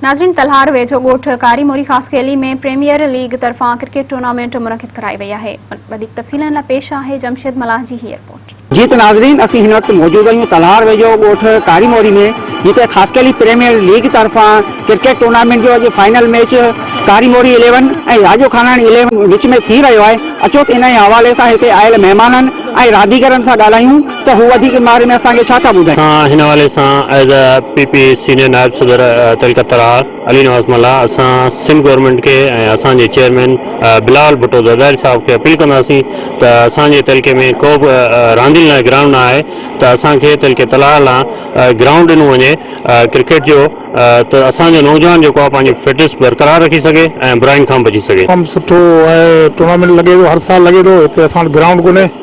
ناظرين تلهار ويجهو ڳوٺ ڪاري موري خاصخيلي ۾ پريميئر ليگ طرفان ڪرڪيٽ ٽورنامينٽ منعقد ڪرائي وئي آهي وڌيڪ تفصيلن لاء پيش آهي جمشيد ملاح جي هي رپورٽ. جي ته ناظرين اسين هن وقت موجود آهيون تلهار ويجهو ڳوٺ ڪاري موري ۾ جتي خاصخيلي پريميئر ليگ طرفان ڪرڪيٽ ٽورنامينٽ جو اڄ فائنل ميچ ڪاري موري اليون ۽ راڄو خاناڻي اليون وچ ۾ ٿي رهيو آهي اچو ته انهي حوالي سان هتي آيل مهمانن ۽ رانديگرن سان ڳالهايون ته هو وڌيڪ باري ۾ اسان کي ڇا ٿا ٻڌائين. اسان هن حوالي سان ايز اي پي پي سينئر نائب صدر تلڪ ترا علي نواز ملاح اسان سنڌ گورنمينٽ کي ۽ اسان جي چيئرمين بلاول ڀٽو زرداري صاحب کي اپيل ڪنداسين ته اسان جي تعلقي ۾ ڪو به راندين لاء گرائونڊ نه آهي ته اسان کي تلڪ ترا لا گرائونڊ ڏنو وڃي ڪرڪيٽ جو ته اسان جو نوجوان جيڪو آهي پنهنجي فٽنس برقرار رکي سگهي ۽ براين کان بچي سگهي. تمام سٺو ٽورنامينٽ لڳي ٿو هر سال لڳي ٿو هتي اسان وٽ گرائونڊ ڪونهي.